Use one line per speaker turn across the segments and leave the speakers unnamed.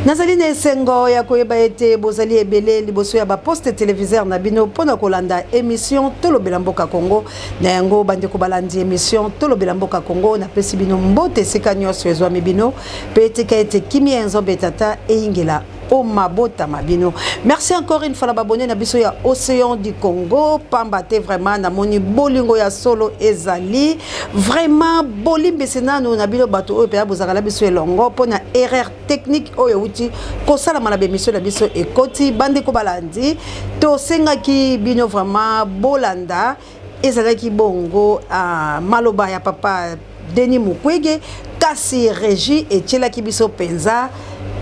nazali na esengo ya koyeba ete bozali ebele liboso ya baposte televiseur na bino mpo na kolanda emission tolobela mboka congo na yango bandeko balandi emission tolobela mboka congo napesi bino mbote esika nyonso ezwami bino Mpe tika ete kimia ya Nzambe Tata eyingela o mabota ma bino. Merci encore une fois na babone na biso ya Océan du Congo, pamba te vraiment namoni bolingo ya solo ezali vraiment bolimbisi nanu na bino bato oyo mpenza bozalaka na biso elongo mpo na erreur technique oyo euti kosalama na bemisio na biso ekoti bandeko balandi tosengaki bino vraiment bolanda Ezalaki bongo uh, maloba ya papa Denis Mukwege, kasi regie etielaki biso penza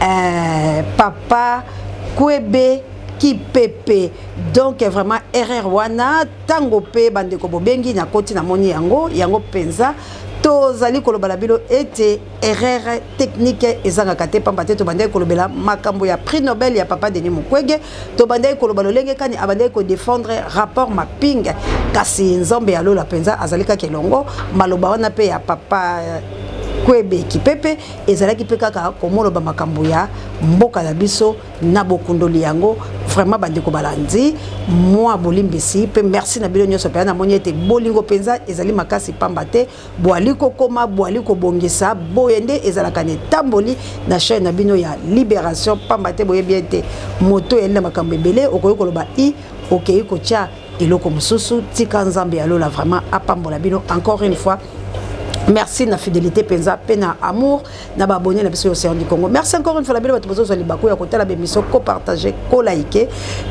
uh, papa Kwebe kipepe donc vraiment erreur wana ntango mpe bandeko bobengi nakoti namoni yango yango mpenza tozali koloba na bino ete erreur technique ezangaka te pamba te tobandaki kolobela makambo ya prix nobel ya papa denis mukwege tobandaki koloba lolenge kani abandaki kodefendre rapport maping kasi nzambe ya lola mpenza azali kaka elongo maloba wana mpe ya papa kwebe kipepe ezalaki mpe kaka komoloba makambo ya mboka na biso na bokundoli yango vraiment bandeko balandi mwa bolimbisi mpe merci na bino nyonso mpenza namoni ete bolingo mpenza ezali makasi pamba te Boali kokoma, boali kobongisa, boye nde ezalaka na etamboli na chaîne na bino ya Liberation pamba te boyebi ete moto eyali na makambo ebele okoki koloba i okei kotia eloko mosusu tika Nzambe ya lola vraiment apambola bino encore une fois merci na fidelité penza pe na amour na ba abonné na biso l'océan du Congo merci encore une fois la belle bato bozozwa libaku ya kotala bemiso ko partager ko like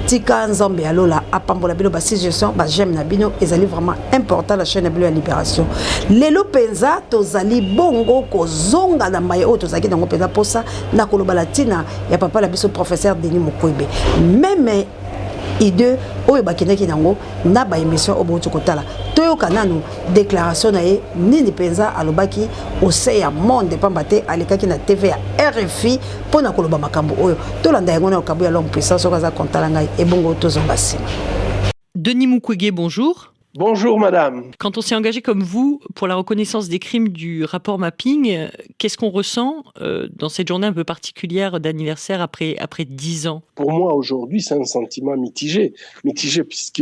tika nzambe ya lola apambola bino ba suggestion ba j'aime na bino ezali vraiment important la chaîne na bino ya libération lelo mpenza tozali bongo kozonga na maye oyo tozalaki nango mpenza mposa na koloba na ntina ya papa na biso professeur denis mukwebe meme idée oyo bakendaki nango na baémission oyo bouti kotala toyoka nanu declaration na ye nini mpenza alobaki ose ya monde mpamba te alekaki na tv ya rfi mpo na koloba makambo oyo tolanda yango na lokambo ya l'homme puissant soki aza kontala ngai ebongo tozonga nsima denis
mukwege bonjour Bonjour madame.
Quand on s'est engagé comme
vous pour la reconnaissance des crimes du rapport mapping, qu'est-ce qu'on ressent euh, dans cette journée un peu particulière d'anniversaire après après dix ans Pour moi aujourd'hui,
c'est un sentiment mitigé, mitigé puisque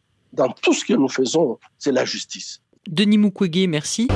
Dans tout ce que nous faisons, c'est la justice. Denis Mukwege,
merci.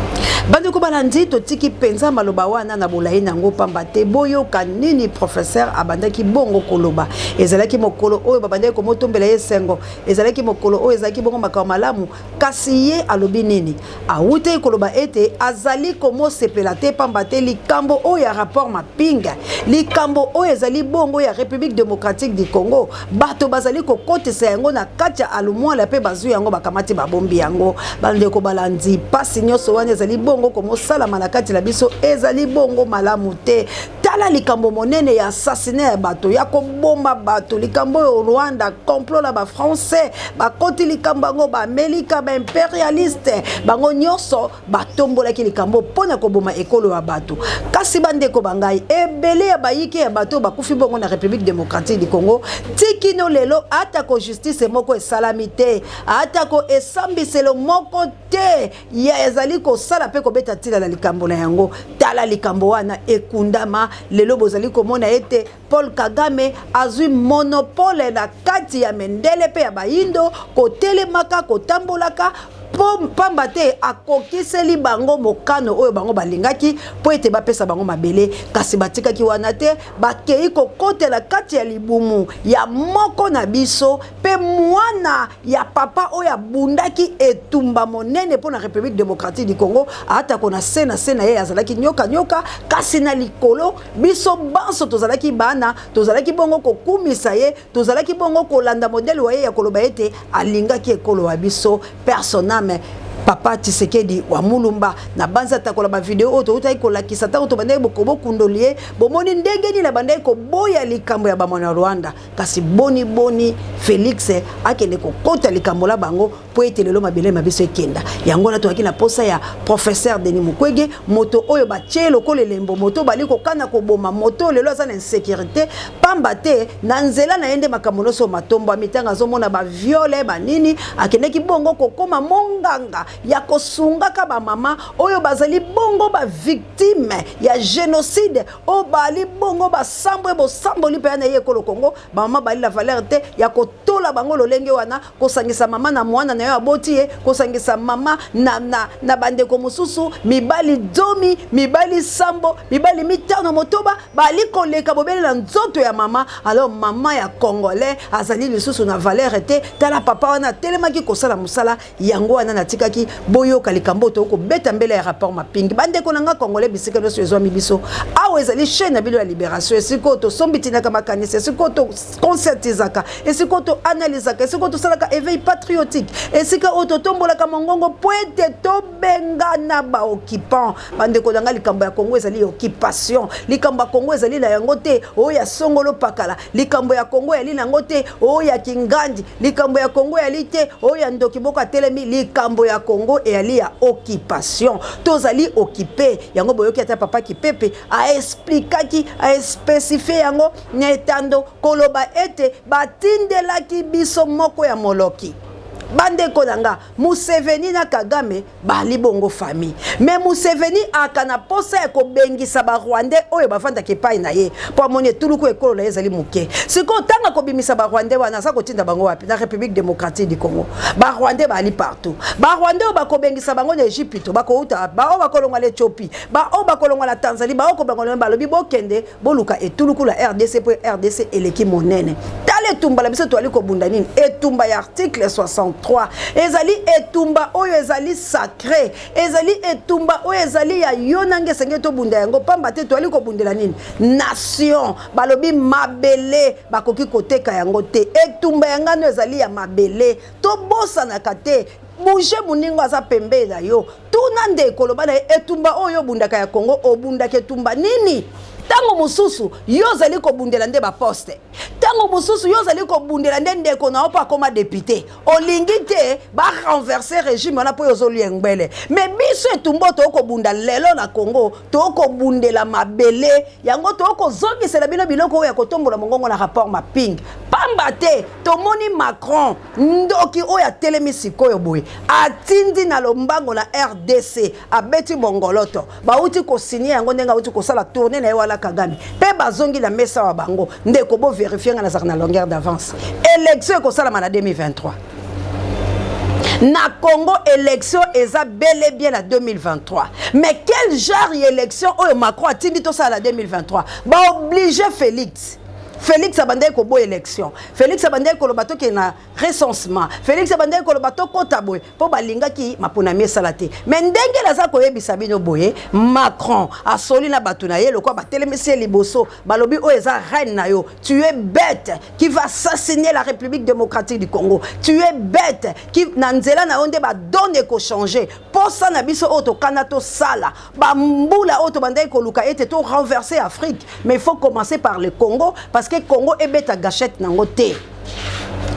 bandeko balandi
totiki mpenza maloba wana na bolai na yango mpamba te boyoka nini professeur abandaki bongo koloba ezalaki mokolo oyo babandaki komotombela ye esengo ezalaki mokolo oyo ezalaki bongo makambo malamu kasi ye alobi nini Awutaki koloba ete azali komosepela te mpamba te likambo oyo ya rapport mapping likambo oyo ezali bongo ya République démocratique du Congo bato bazali kokotisa yango na kati ya alumwala mpe bazwi yango bakamati babombi yango bandeko balandi mpasi nyonso wana ezali bongo komosalama na kati na biso ezali bongo malamu te tala likambo monene ya assassine ya bato ya koboma bato likambo oyo rwanda complot na bafrançais bakoti likambo yango baamerika baimperialiste bango nyonso batombolaki likambo mpo na koboma ekolo ya bato kasi bandeko ba ngai ebele ya bayike ya bato bakufi bongo na république démocratique du congo tikino lelo atako justice moko esalami te atako esambiselo moko te ya ezali kosala mpe kobeta ntina na likambo na yango tala likambo wana ekundama lelo bozali komona ete paul kagame azwi monopole na kati ya mendele mpe ya bayindo kotelemaka kotambolaka mpo mpamba te akokiseli bango mokano oyo bango balingaki mpo ete bapesa bango mabele kasi batikaki wana te bakei kokotela kati ya libumu ya moko na biso mpe mwana ya papa oyo abundaki etumba monene mpo na république démocratique du congo atako na se na se na ye azalaki nyoka nyoka kasi na likolo biso banso tozalaki bana tozalaki bongo kokumisa ye tozalaki bongo kolanda modele wa ye ya koloba ete alingaki ekolo wa biso personame papa tisekedi wa mulumba na banzi atakola bavideo oyo toutaki kolakisa ntango tobandaki bokobokundoli ye bomoni ndenge nini abandaki koboya likambo ya bamwana rwanda kasi boni boni felix akende kokota likambo la bango mpo ete lelo mabele ma biso ekenda yango wana tozalaki na mposa ya professeur denis mukwege moto oyo batye lokola elembo moto oyo bali kokana koboma moto lelo aza na insécurité pamba te na nzela na ye nde makambo nyonso matombwami ntango azomona baviole banini akendeki bongo kokoma monganga ya kosungaka bamama oyo bazali bongo bavictime ya génocide o bali bongo basambwe bosamboli mpenza na ye ekolo kongo bamama bali la valeur te ya kotola bango lolenge wana kosangisa mama na mwana na yo aboti ye kosangisa mama na, na, na bandeko mosusu mibali zomi mibali sambo mibali mitano motoba bali koleka bobele na nzoto ya mama alors mama ya congolais azali lisusu na valeur te tala papa wana atelemaki kosala mosala yango wana natikaki boyoka likambo oyo tokobeta mbele ya rapport mapingi bandeko na ngai congolais bisika nyonso ezwami biso awa ezali chaine na bino ya liberation esika oyo tosombitinaka makanisi esika oyo toconcertisaka esika oyo toanalysaka esika oyo tosalaka éveil patriotique esika oyo totombolaka mongongo mpo ete tobengana baoccupant bandeko na ngai likambo ya kongo ezali occupation likambo ya kongo ezali na yango te oyo ya songolo pakala likambo ya kongo yali nango te oyo ya kingandi likambo ya kongo yali te oyo ya ndoki boko atelemi likambo ya kongo eyali ya occupation tozali okipe yango boyoki ata papa kipepe aesplikaki aespesifie yango na etando koloba ete batindelaki biso moko ya moloki bandeko na nga museveni na kagame bali bongo famille me museveni aka na mposa ya kobengisa barwandais oyo bafandaka epai na ye mpo amoni etuluku ekolo na ye ezali moke sikoyo ntango akobimisa barwandais wana aza kotinda bango wapi na république démocratique du congo barwandais bali partout barwandais oyo bakobengisa bango na egypito bakouta wapi baoyo bakolongwa na ethiopie baoyo bakolongwa na tanzanie baoyo kobangwa balobi bokende Boluka etuluku la RDC mpo RDC eleki monene. Tala etumba la biso toali kobunda nini? Etumba ya article 63 ezali etumba oyo ezali sacre, ezali etumba oyo ezali ya yo nange esengeli tobunda yango pamba te toali kobundela nini? Nation. Balobi mabele bakoki koteka yango te. Etumba ya ngano ezali ya mabele. Tobosanaka te bouge moningo aza pembeni na yo Tuna ndeko, loba na ye etumba oyo obundaka ya Congo, obundaka etumba nini? ntango mosusu yo ozali kobundela nde baposte ntango mosusu yo ozali kobundela nde ndeko na yo mpo akoma depute olingi te barenverse regime wana mpo yo ozolia engbele me biso etumbo tookobunda lelo na congo tookobundela mabele yango tookozongisela bino biloko oyo ya kotombola mongongo na rapport mapping pamba te tomoni macron Ndoki oyo atelemi sikoyo boye atindi na lombango na rdc abeti bongoloto bauti kosinie yango ndenge auti kosala tourne na ye wana kagame mpe bazongi na mesa wa bango ndeko bo verifie ngai nazalaka na longueur d'avance election ekosalama na 2023 na congo election eza bele bien na 2023 mais quel genre ya election oyo macron atindi tosala na 2023 baoblige félix félix abandaki koboya election Felix abandaki koloba tokende na recensement Felix abandaki koloba tokota boye mpo balingaki maponami esala te me ndenge naza koyebisa bino boye Macron asoli na bato na ye lokola batelemisi ye liboso balobi oyo eza reine na yo tu es bête qui va assassiner la République démocratique du Congo tu es bête qui na nzela na yo nde badone ekochange mposa na biso oyo tokana tosala bambula oyo tobandaki koluka ete to renverser afrique mais il faut commencer par le congo parce que congo ebeta gachette nango te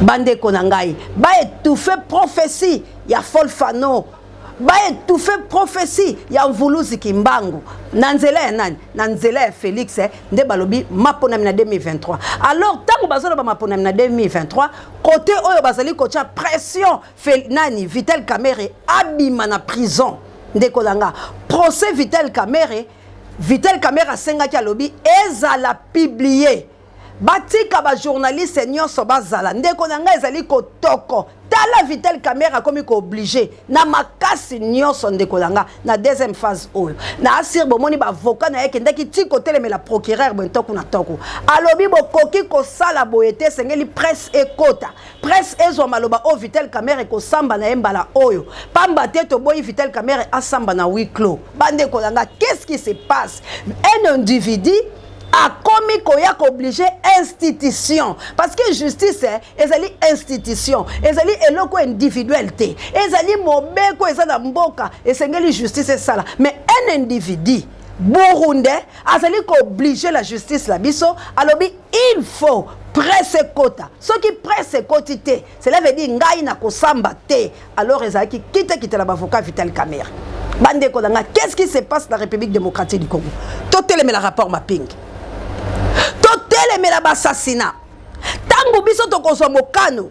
bandeko na ngai baetouffe prophetie ya folfano baetouffe prophetie ya mvuluzi kimbangu na nzela ya nani na nzela ya félix eh, nde balobi maponami na 2023 alors ntango bazoloba maponami na 2023 kote oyo bazali kotya pression Fel, nani vital kamerhe abima na prison ndeko na nga procès vital kamerhe vital kamerhe asengaki alobi ezala publie batika ba journaliste nyonso bazala ndeko na nga ezali kotoko tala vital kamerhe akomi kooblige na makasi nyonso ndeko na nga na deuxième phase oyo na asire bomoni baavoka na ye ekendaki ti kotelemela procureur boye ntoku na ntoku alobi bokoki kosala boye te esengeli presse ekota Presse ezwa maloba oyo Vital Kamerhe kosamba na ye mbala oyo pamba te toboyi Vital Kamerhe asamba na huis clos. Bandeko na nga, qu'est-ce qui se passe? Un individu akomi koya kooblige institution parce que justice eh, ezali institution ezali eloko individuel te ezali mobeko eza na mboka esengeli justice esala mais un individu burundais azali kooblige la justice na biso alobi Il faut presse ekota soki presse ekoti te cela veut dire ngai nakosamba te alors ezalaki kitekite na bavoka vital camere bandeko na ngai qu'est ce qui se passe na république démocratique du congo totelemela rapport mapingi totelemela basassina ntango biso tokozwa mokano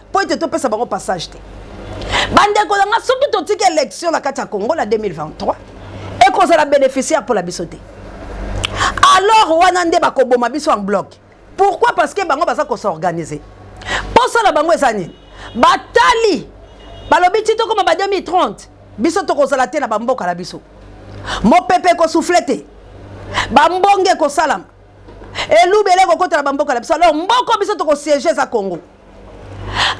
mpo ete topesa bango passage te bandeko na nga soki totiki élection na kati ya congo na 2023 ekozala bénéficiaire mpo na biso te alors wana nde bakoboma biso en bloc pourquoi parce que bango baza kosorganize mposa na bango eza nini batali balobi ti tokoma ba 2030 biso tokozala te na bamboka na biso mopepe ekosufle te bambonge ekosalama elubele ekokota na bamboka na biso alors mboko biso tokosiege eza congo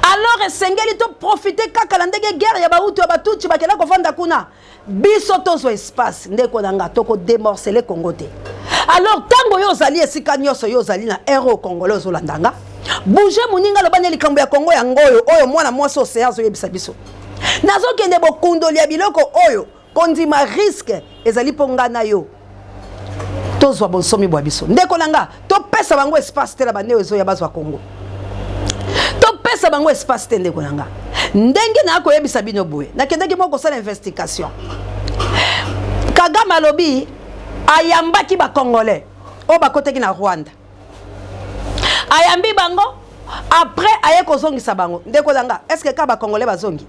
alors esengeli to profite kaka na ndenge guerre ya bautu ya batuti bakenda kofanda kuna biso tozwa espace ndeko na nga tokodemorcele congo te alors ntango yo ozali esika nyonso yo ozali na ere o congolais ozolanda nga bouge moninga aloba nde likambo ya kongo yango oyo oyo mwana mwasi oseya azoyebisa biso nazokende bokundoli ya biloko oyo Kondima risque ezali mpo nga na yo tozwa bonsomi bwa biso. Ndeko na nga, topesa bango espace te na baneo ezoya bazwa Congo. Topesa bango espace te ndeko na nga. Ndenge na koyebisa bino boye, nakendaki moko kosala investigation. Kagame alobi ayambaki ba Congolais oyo bakotaki na Rwanda. ayambi bango après aye kozongisa bango ndeko na nga estce kaka bacongolais bazongi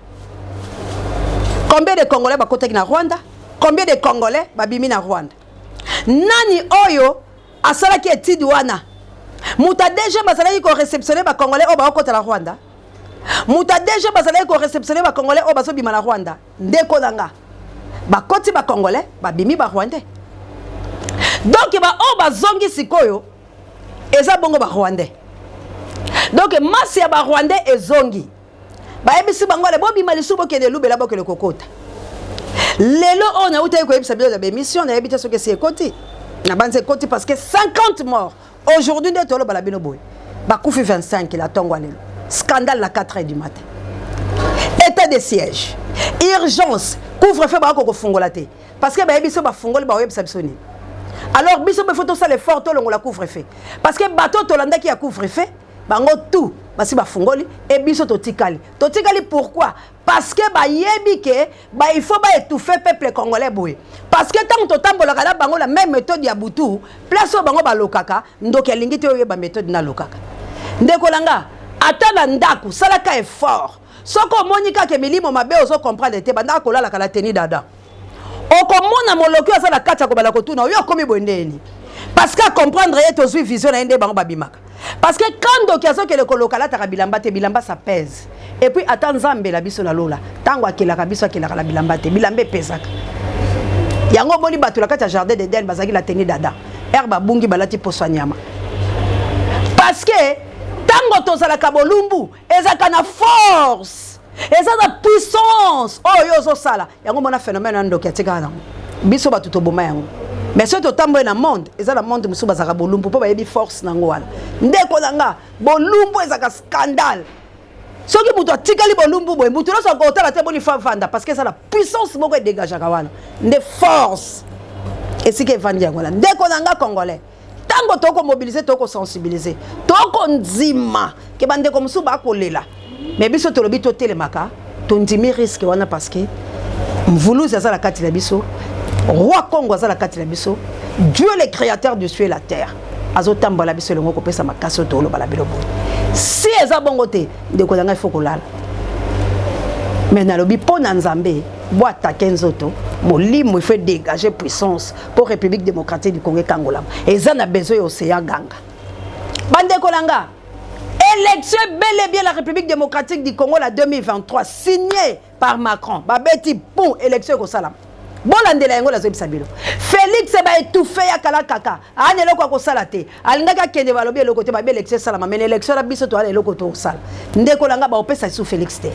combien de congolais bakotaki na rwanda combien de congolais babimi na rwanda nani oyo asalaki etide wana moto ya dg bazalaki koreceptionne bacongolais oyo baokota na rwanda moto ya dg bazalaki koreceptionne bacongolais oyo bazobima na rwanda Ndeko na nga bakoti ba congolais babimi ba rwandais donc ba oyo bazongi sikoyo eza bongo ba rwandais donc masi ya ba rwandais ezongi bayebisi bango ale bobima lisusu bokende elubela bokende kokota lelo oyo nautaki koyebisa bino na baemission nayebi te soki esi ekoti nabanzi ekoti parce que 50 mort Aujourd'hui nde toloba na bino boye bakufi 25 la tongo lelo scandale na 4 heures du matin état de siège urgence couvre-feu bakoki kofungola te parce que bayebi biso bafungoli bakoyebisa biso nini alors biso mpe fo tosala effort tolongola couvre-feu parce que bato tolandaki ya couvre-feu bango tout basi bafungoli e biso totikali totikali pourquoi parce que bayebi ke ba il faut ba étouffer peuple congolais boye parce que ntango totambolaka na bango na même méthode ya butu place oyo bango balokaka ndoki alingi te oyeba méthode nalokaka ndeko na nga ata na ndako salaka effort soki omoni kaka milimo mabe ozo comprendre te bandaka kolalaka na teni dada okomona moloki oyo aza na kati akobala kotuna oyo akomi boye nde yeni parce que acomprendre ye tozwi vision na ye nde bango babimaka parce que quand ndoki azokende koloka alataka bilamba te bilamba sa pèse et puis ata nzambe na biso na lola ntango akelaka biso akelaka na bilamba te bilamba epesaka yango omoni bato na kati ya jardin d'eden bazalaki na teni dada ere babungi balati poso ya nyama parce que ntango tozalaka bolumbu ezalaka na force eza na puissance oyo oh, yo ozosala yango mona phénomène ya ndoki atikaka nango biso bato toboma yango mais soki totamboli na monde eza na monde mosusu bazalaka bolumbu mpo bayebi force nango wana ndeko na nga bolumbu ezalaka scandale soki moto atikali bolumbu boye moto nyonso akotala te boni favanda parce que eza na puissance moko edegageaka wana nde force esika evandi yango wana ndeko na nga congolais ntango tokoki komobilize tokoki kosensibilize tokoki kondima ke bandeko mosusu bakolela me biso tolobi totelemaka tondimi riske wana parce que mvuluzi aza na kati na biso roi congo aza na kati na biso dieu le créateur du cieux et la terre azotambola biso elongo kopesa makasi oyo toloba na bino boye si eza bongo te ndeko na ngai fo kolala me nalobi mpo na nzambe boatake nzoto molimo ifo edégage puissance mpo république démocratique du congo ekangolama eza na besoin ya ocean ganga bandeko na nga élection ebele bien la république démocratique du congo la 2023 signé par macron babeti pon élection ekosalama bolandela yango nazobisa bino félix baetouffe ya kala kaka ana eloko ya kosala te alingaki akende balobi eloko te babi élection esalama mene élection na biso toana eloko tokosala ndeko na ngai baopesa lisusu félix te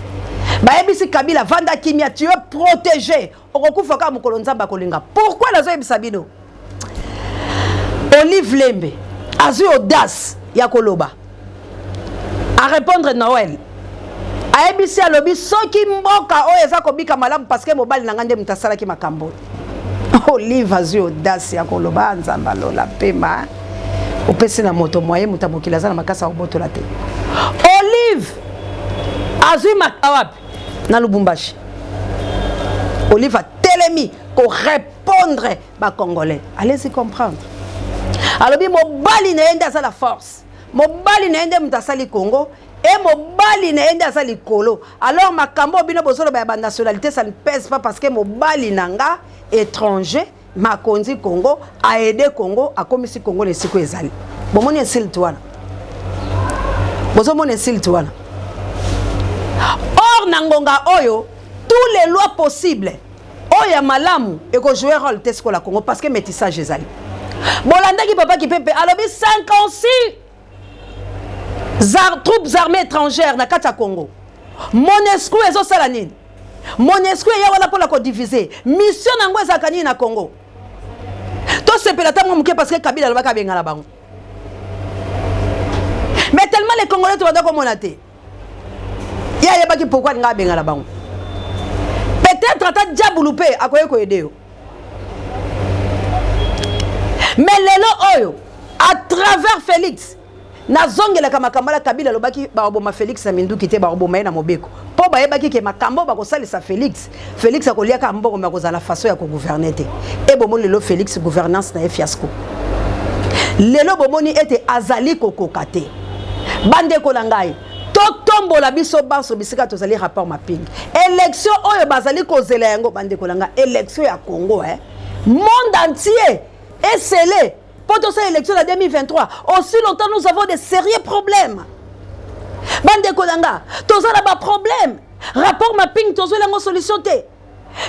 bayebisi kabila vanda kimia tu es protégé okokufa kaka mokolo nzambe akolinga pourkui nazoyebisa bino olive lembe azwi audace ya koloba arépondre noel ayebisi alobi soki mboka oyo eza kobika malamu parceke mobali na ngai nde moto asalaki makambo olive azwi audace ya koloba ah, nzambe alola mpema opesi na moto moye moto ya mokili aza na makasi akobotola te olive azwi makawapi na lubumbashi olive atelemi korepondre bacongolais allez-y comprendre alobi mobali na ye nde aza la force mobali na ye nde moto asali congo e mobali na ye nde aza likolo alors makambo oyo bino bozoloba ya banationalité ça ne pèse pas parce que mobali na nga étranger makonzi congo aide congo akomisi congo na esiko ezali bomoni insulte wana bozomona insulte wana or na ngonga oyo tous les lois possibles oyo ya malamu ekojoue role te sikola congo parce que métissage ezali bolandaki papa kipepe alobi 56 Zar, troupes armées étrangères na kati ya Congo. Monesco ezosala nini? Monesco eya wana mpona kodivise. Mission na yango ezalaka nini na Congo? Tosepela ntango moke parce que Kabila alobaki abengana bango. Mais tellement les Congolais tobanda komona te. ye ayebaki pourkui alinga abengana bango peut-être ata diabulu mpe akoki koyede yo mais lelo oyo à travers félix nazongelaka makambo ala kabila alobaki bakoboma félix na minduki te bakoboma ye na mobeko mpo bayebaki ke makambo oyo bakosalisa félix Felix akolia kaka mbongo mais akozala façon ya kogouverner te e bomoni lelo Felix gouvernance na ye fiasco lelo bomoni ete azali kokoka te bandeko na ngai totombola biso banso bisika tozali rapport mapingi élection oyo bazali kozela yango bandeko na ngai élection ya congo eh? monde entier esele Pour tout ça, élection de 2023, aussi longtemps nous avons des sérieux problèmes. Bande Kolanga, tous ça là problème. Rapport mapping, tous ça là solution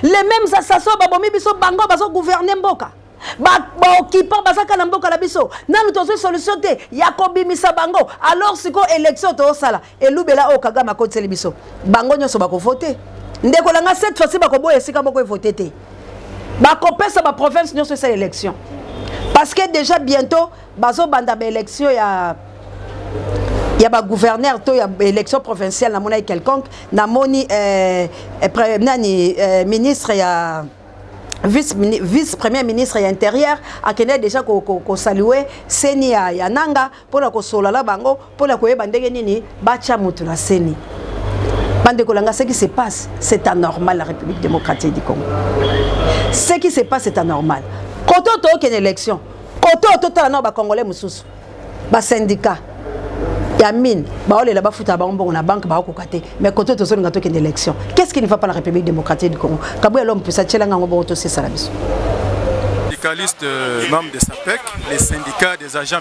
Les mêmes assassins, babomi biso bango, baso gouverner mboka. baoccupant bazaka na mboka na biso nanu tozwi solution te ya kobimisa bango alors sikoyo élection toosala Elubela oyo kagame akotiseli biso bango nyonso bako vote ndeko na nga cette fois-ci bakoboya esika moko evote te bakopesa ba province nyonso esala élection parce que déjà bientôt bazobanda ba élection ya ya ba gouverneur to ya élection provinciale namonaki quelconque namoni euh, euh, nani euh, ministre ya vice, vice premier ministre ya intérieur akendaki déjà kosalue ko, ko seni ya, ya nanga mpo na kosolola na bango mpo na koyeba ndenge nini batya moto na seni bandeko na ngai ce qui se passe c'est anormal la république démocratique du congo ce qui se passe c'est anormal kote oyo tookende élection kote oyo totala nao bacongolais mosusu basyndicat ya mine baolela bafutaka bango mbongo na banke baokoka te mais kote oyo tozolinga tokende élection qu'est ce qui ne va pas la république démocratique du congo kabuya lom mpusa tyelanga yango bongo tosesala biso
syndicaliste euh, membre de SAPEC, les syndicats des agents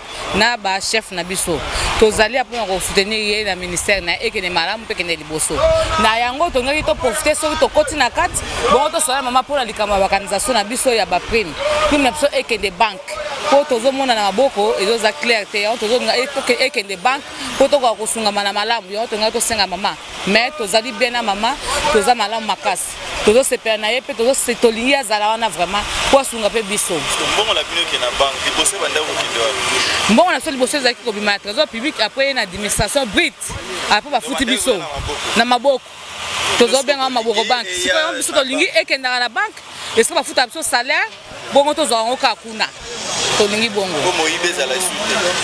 na ba chef na biso tozali ya mpona kosoutenir ye na ministère na ye ekende malamu mpe ekende liboso na yango tongaki toprofite soki tokoti na kati bongo tosola mama mpona likambo ya bakanisation na biso ya baprime prime na biso ekende banke mpo tozomona na maboko ezoza claire te yango tozonga ekende banke mpo tokoka kosungama na malamu yango tongaki tosenga mama mais tozali bien na mama toza malamu makasi Fete tozo sepela na ye pe tozo se tolingi azala wana vraiment po asunga pe biso mbongo na bino ke na
banque liboso ebanda kokende wapi mbongo na biso liboso ezalaki
kobima na trésor public après ye na administration brit après bafuti biso na maboko tozobengaka maboko banke sikoyo biso tolingi ekendaka na banke esika bafuta biso salaire bongo tozwaka yango kaka kuna tolingi bongo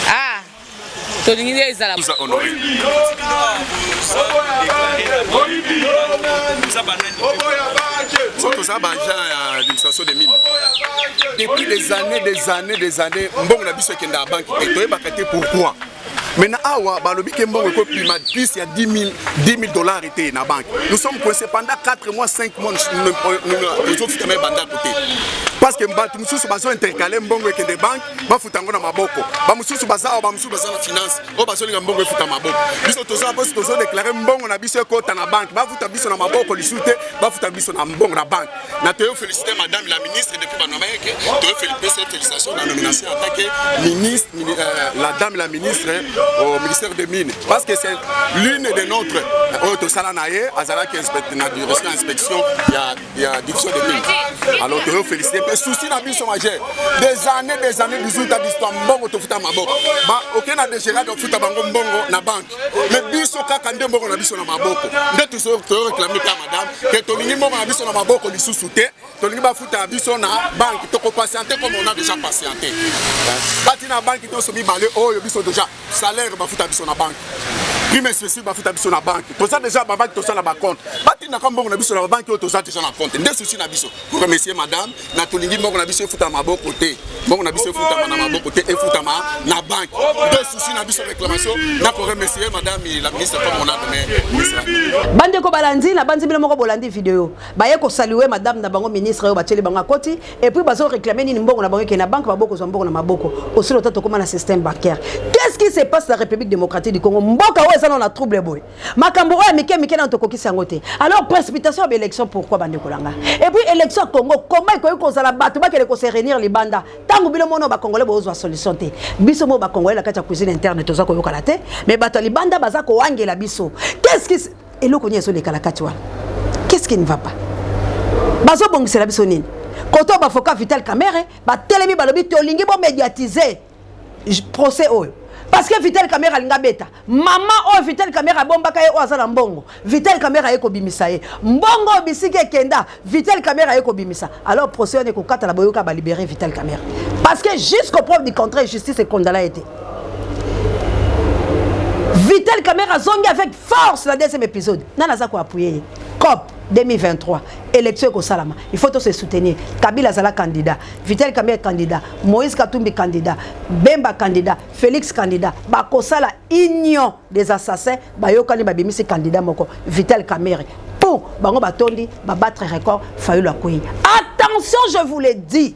ah
tolingi nde ezala
toza baagent ya administration de mine depuis des années des années des années mbongo na biso ekendaka banki te toyebaka te pourquoi maintenant awa balobi ke mbongo ekopima plus ya 10 000 dollars ete na banque nous sommes coincé pendant 4 mois 5 mois tozofutama ebandako te parce que bato mosusu bazo intercale mbongo ekende banque bafuta yango na maboko bamosusu baza awa bamosusu baza na finance oyo bazolinga mbongo efuta maboko biso toza mposi tozodeklare mbongo na biso ekota na banke bafuta biso na maboko lisusu te bafuta biso na mbongo na banke na toyo félicité madame la ministre depuis banomayeke toyo pese félicitation na nomination atake ministre euh, la dame la ministre au ministère de mine parce que c'est l'une de notre euh, oyo tosala na ye azalaki na direction inspection ya ya division de pays alors toyo félicité mpe souci na biso majeur des années des années 18 a biso mbongo tofuta maboko oke na degerade ofuta bango mbongo na banke mais biso kaka nde mbongo na biso na maboko nde toyo réclame ta madame ke tolingi mbongo na biso na maboko lisusu te tolingi bafuta biso na banke tokopatiente comme on a déjà patiente bati na banke nyonso mibale oyo biso déjà salaire bafuta biso na banque prime spécifique bafuta biso na banque toza déjà babanque tosala bacompte batindaka mbongo na biso na babanque oyo toza déjà na compte nde susi na biso remercier madame na tolingi mbongo na biso efutama maboko te mbongo na biso efutama na maboko te efutama na banque nde susi na biso réclamation na koremercier madame la ministre comme on a nommé bandeko balandi
nabanzi bino moko bolandi video baye kosalue madame na bango ministre oyo batieli bango akoti et puis bazo réclamer nini mbongo na bango ke na banque ba boko zwa mbongo na maboko osilo ta tokoma na système bancaire qu'est-ce qui se passe la République démocratique du Congo mboka oyo eza na trouble boy makambo oyo mike mike na tokokisi yango te alors précipitation ya élection pourquoi bande kolanga et puis élection Congo comment ekoki kozala bato bakele ko se réunir libanda tango bino mono ba congolais bozwa solution te biso mo ba congolais la kati ya cuisine interne toza koyokana te mais bato libanda baza koangela biso qu'est-ce qui eloko nini ezoleka na kati wana qu'est-ce qui ne va pas bazobongisela biso nini koto bafoka vital camere batelemi balobi tolingi bomédiatise procès oyo parce que vital camere alinga beta mama oyo vital camere abombaka ye oyo aza na mbongo vital camere aye kobimisa ye mbongo oyo bisiki ekenda vital camere aye kobimisa alors procès wana ekokatana boyoka balibere vital camere parce que jusqu'au preuve du contraire justice ekondana ye te vital camere azongi avec Force na deuxième episode nani aza ko appuyer ye cop 2023 élection ekosalama il faut tose soutenir kabila azala candidat vital kamere candidat moïse katumbi candidat bemba candidat félix candidat bakosala union des assassins bayokani babimisi candidat moko vital kamere po bango batondi babattre record fayulu akwei attention je vous le dis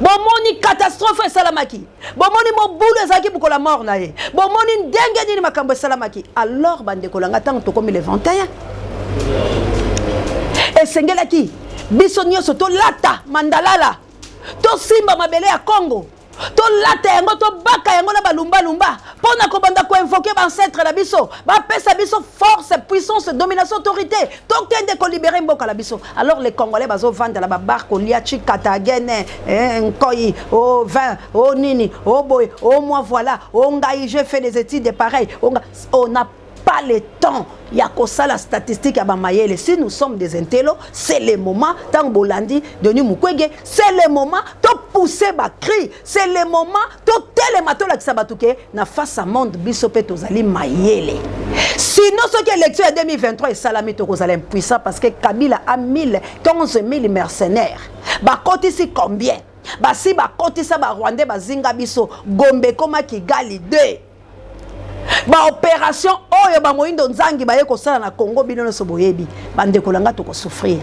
bomoni katastrofe esalamaki bomoni mobulu ezalaki mokolo ya mort na ye bomoni ndenge nini makambo esalamaki alors bandeko na ngai ntango tokomi le 21 esengelaki biso nyonso tolata mandalala tosimba mabele ya congo tolata yango tobaka yango na balumbalumba mpo na kobanda koinvoke baancetre na biso bapesa biso force puissance domination autorité tokende kolibere mboka na biso Alors les Congolais bazo vanda la babar kolia chikata gene eh, nkoi oh vin oh nini oh boy oh moi voilà oh ngai j'ai fait des études pareil oh, on n'a pas le temps ya kosala statistique ya bamayele si nous sommes des intello c'est le moment ntango bolandi denis mukwege c'est le moment topousse bacri c'est le moment totelema tolakisa bato ke na face a monde biso mpe tozali mayele sinon soki élection ya 2023 esalami tokozala impuissant parce que kabila a 1000 11000 mercenaires bakotisi combien basi bakotisa barwandais bazinga biso gombe ekoma kigali 2 ba operation oyo ba moyindo nzangi baye kosala na congo bino nyonso boyebi bandeko na ngai tokosouffrir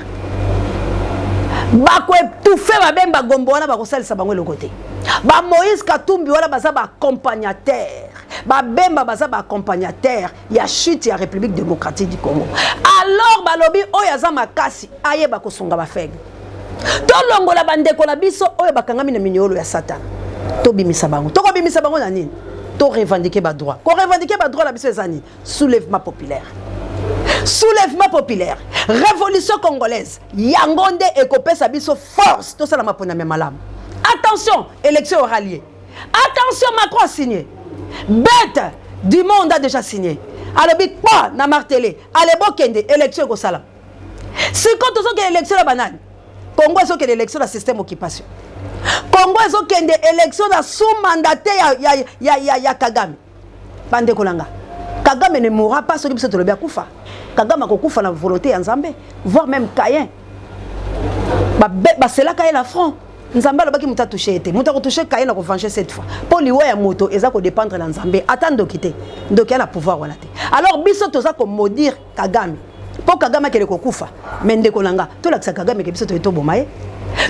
bakoetufe babemba gombo wana bakosalisa bango eloko te ba moïse katumbi wana baza baaccompagnateur babemba baza baaccompagnateur ya chute ya république démocratique du congo alors balobi oyo aza makasi ayeba kosunga bafaible tolongola bandeko na biso oyo bakangami na minyolo ya satana tobimisa bango tokobimisa bango na nini to revendiquer ba droit ko revendiquer ba droit na biso eza nini soulèvement populaire soulèvement populaire révolution congolaise yango nde ekopesa biso force tosala maponami ya malamu attention élection aura lieu attention macron a signé bête du monde a déjà signé alobi kpa na martele alebo kende élection ekosala sikoyo tozokende election na banani congo ezokende election na système occupation congo ezokende election na sous mandate ya, ya, ya, ya, ya kagame bandeko na nga kagame ne mourra pas soki biso tolobi akufa kagame akokufa na volonté ya nzambe voire même cayen baselaka ye na front nzambe alobaki moto atouche ye te moto akotouche kaye na kovange cette fois mpo liwa ya moto eza kodépendre na nzambe ata ndoki te ndoki ya na pouvoir wana te alors biso toza komodire kagame mpo kagame akende kokufa me ndeko na nga tolakisa kagame ke biso toye toboma ye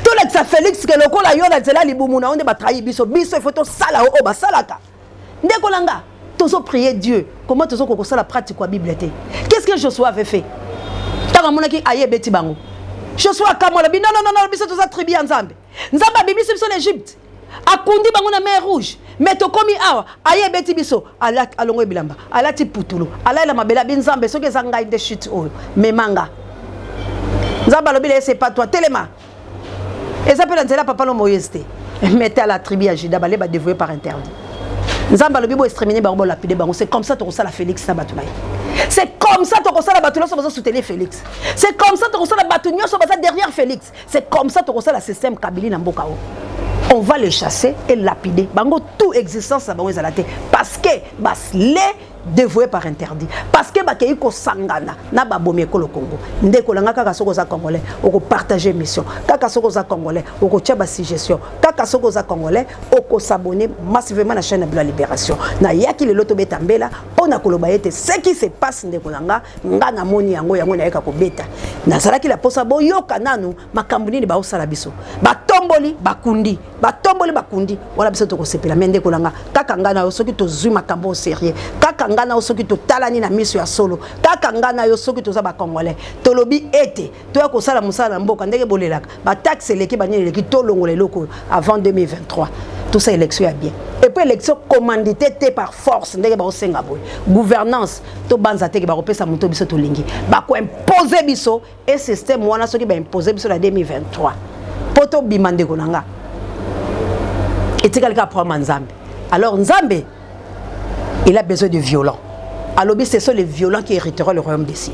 tolakisa félix ke lokola yo na nzela libumu na yo nde batrahi biso biso ifo tosala oyo basalaka ndeko na nga tozo prier dieu comment tozo kokosala pratique ya bible te qu'est ce que josué avait fait ntango amonaki aye ebeti bango josué akamolaki non non non biso toza tribu ya nzambe Nzambe abimisi biso na Egypte. Akundi bango na mer rouge. Mais tokomi awa, aye beti biso, alati alongo bilamba, alati putulu, alaila mabela bi Nzambe soki eza ngai nde chute oyo. Memanga. Nzambe alobi la c'est pas toi, telema. Eza pe na nzela papa no Moïse te. Mettez à la tribu à Juda bale ba dévoué par interdit. Nzambe alobi bo exterminer bango bo lapider bango, c'est comme ça tokosala Félix na bato na ye. C'est comme ça tokosala bato nyonso bazo soutenir Félix. C'est comme ça tokosala bato nyonso baza derrière Félix. C'est comme ça tokosala système Kabili na mboka o. On va le chasser et lapider. Bango tout existence na bango ezala te parce que bas les dévoué par interdit parce que bakei kosangana na babomi ekolo congo ndeko nanga kaka soki oza congolais okopartage émission kaka soki oza congolais okotya basuggestion kaka soki oza congolais okosabone massivement na chaîne ya bilo ya libération nayaki lelo tobeta mbela mpo na koloba ete ce qui se passe ndeko na nga nga na moni yango yango nayeka kobeta nazalaki la posa boyoka nanu makambo nini baosala biso batomboli bakundi batomboli bakundi wana biso tokosepela me ndeko na nga kaka nga na yo soki tozwi makambo o serieux kaka nga na yo soki totalani na miso ya solo kaka nga na yo soki toza bacongolais tolobi ete toya kosala mosala na mboka ndenge bolelaka bataxe eleki banini eleki tolongola eloko oyo avant 2023 tosa élection ya bien epuis élection commandité te par force ndenge baosenga boye gouvernance tobanza teke bakopesa moto biso tolingi bakoimpose biso e système wana soki baimpose biso na 2023 mpo tobima ndeko na nga etikali kaka problème ya nzambe alors nzambe il a besoin de violents alobi ce sont les violents qui hériteront le royaume des cieux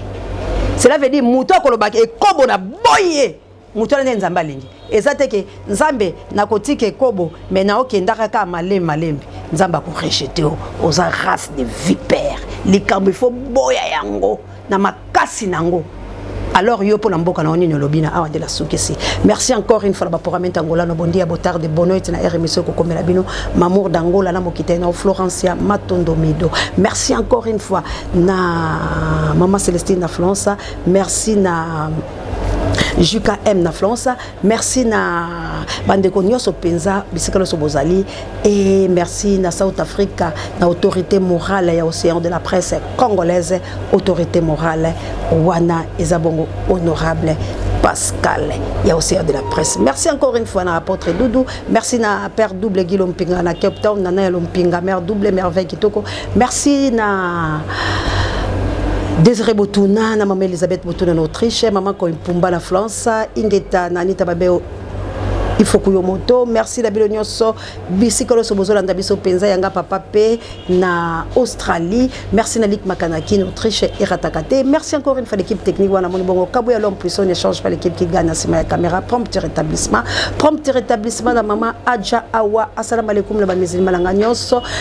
cela veut dire moto akolobaka ekobo na boyi ye moto wana nde nzambe alingi eza te ke nzambe nakotika ekobo me naokendaka kaka malembe malembe nzambe akorejete yo oza race de vipere likambo ifo boya yango na makasi na yango alors yo mpo na mboka na yo nini olobi na awa nde nasukisi merci encore une fois na baprogramment angola na bondi ya botarde bonoite na rmso ekokomela bino mamour d'angola na mokitani na florencia matondo mido merci encore une fois na mama celestine na florence merci na jkm na florence Merci na bandeko nyonso mpenza bisika nyonso bozali e merci na South Africa na autorité morale ya océan de la presse congolaise autorité morale wana eza bongo honorable Pascal ya océan de la presse merci encore une fois na apôtre Doudou merci na père double Guy Lompinga na Cape Town nana ya Lompinga mère double merveille kitoko Merci na Désiré Botuna na maman Elisabeth Botuna na Autriche, maman Koimpumba na France, Ingeta na Anita Babeo il faut kuyo moto merci na bino nyonso bisika nyonso bozolanda biso mpenza yanga papa mpe na australie merci na lik makanaki na autriche erataka te merci encore une fois l'équipe technique wana moni bongo kabo ya l'homme puissant ne change pas l'équipe qui gagne na nsima ya caméra prompt rétablissement prompt rétablissement na mama adja awa assalamu alaikum na bamisilima na nga nyonso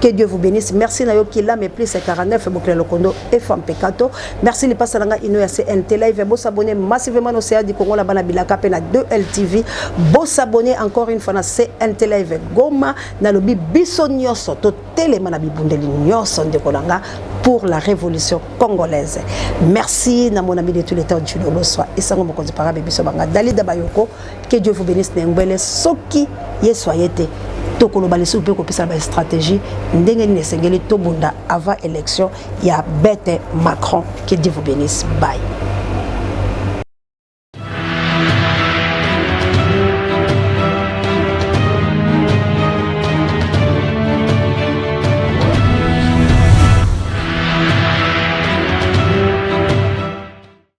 Que Dieu vous bénisse. Merci na yo Kila mais plus 49 Bokela Lokondo et Femme Pekato. Merci les passer nanga ino ya CNT live. Bo s'abonner massivement au CA du Congo la bana bilaka pe na 2LTV. Bo s'abonner encore une fois na CNT live. Goma na lobi biso nyoso to telema na bibundeli nyoso ndeko nanga pour la révolution congolaise. Merci na mon ami de tous les temps Julio Loswa et sango mokonzi parabe biso banga Dalida Bayoko. que Dieu vous bénisse na ngwele soki yesu aye te tokoloba lisusu mpe kopesa ba stratégie ndenge nini esengeli tobunda avant élection ya bete macron que dieu vous bénisse bye